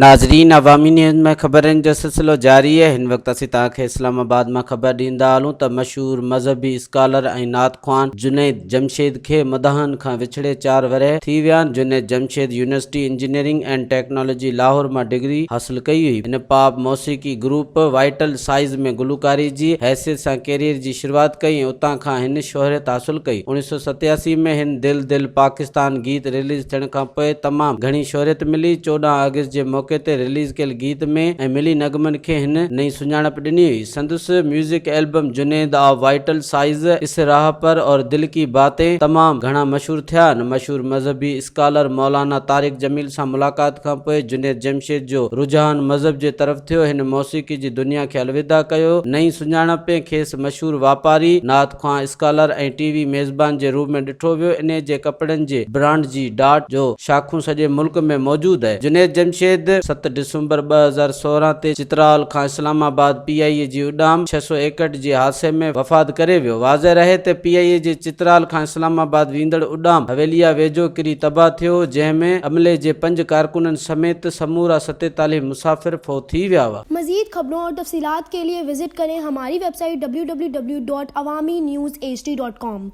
ناظرين عوامي نيوز ۾ خبرن جو سلسلو جاري آهي هن وقت اسين توهان کي اسلام آباد مان خبر ڏيندا هلون ته مشهور مذهبي اسڪالر ۽ نعت خوان جنيد جمشيد کي مداحن کان وڇڙي چار ورهيه ٿي ويا آهن Junaid Jamshed University Engineering and Technology Lahore مان ڊگري حاصل ڪئي هئي هن پاپ موسيقي گروپ وائيٽل سائيز ۾ گلوڪاري جي حيثيت سان ڪيريئر جي شروعات ڪئي ۽ اتان کان هن شهريت حاصل ڪئي. اوڻيھ سؤ ستياسي ۾ هن دل دل پاڪستان گيت رليز ٿيڻ کان پوء تمام گهڻي شهريت ملي. چوڏهن آگسٽ جي موقعي تي رليز ڪيل گيت ۾ ۽ ملي نغمن کي هن نئين سڃاڻپ ڏني هئي. سندس music album Junaid of Vital سائيز، اس راھ پر اور دل ڪي باتين تمام گهڻا مشهور ٿيا. هن مشهور مذهبي، اسڪالر مولانا طارق جميل سان ملاقات کان پوء جنيد جمشيد جو رجحان مذهب جي طرف ٿيو. هن موسيقي جي دنيا کي الوداع ڪيو. نئين سڃاڻپ ۾ کيس مشهور واپاري، نعت خوان، اسڪالر ۽ ٽي وي ميزبان جي روپ ۾ ڏٺو ويو. انهيء جي ڪپڙن جي برانڊ جي ڊاٽ جو شاخون سڄي ملڪ ۾ موجود آهي. جنيد جمشيد ست ڊسمبر ٻه هزار سورهن تي چترال کان اسلام آباد پي آء اي جي اڏام ڇهه سؤ ايڪهٺ جي حادثي ۾ وفات ڪري ويو. واضح رهي ته پي آء اي جي چترال کان اسلام آباد ويندڙ اڏام حويليء ويجهو ڪري تباهه ٿيو، جنهن ۾ عملي جي پنج ڪارڪنن سميت سمورا ستيتاليهه مسافر فوت ٿي ويا هئا. مزيد خبرون اور تفصيلات کے ليے وزٽ ڪرين ھماري ويب سائيٽ www.awaminews hd.com.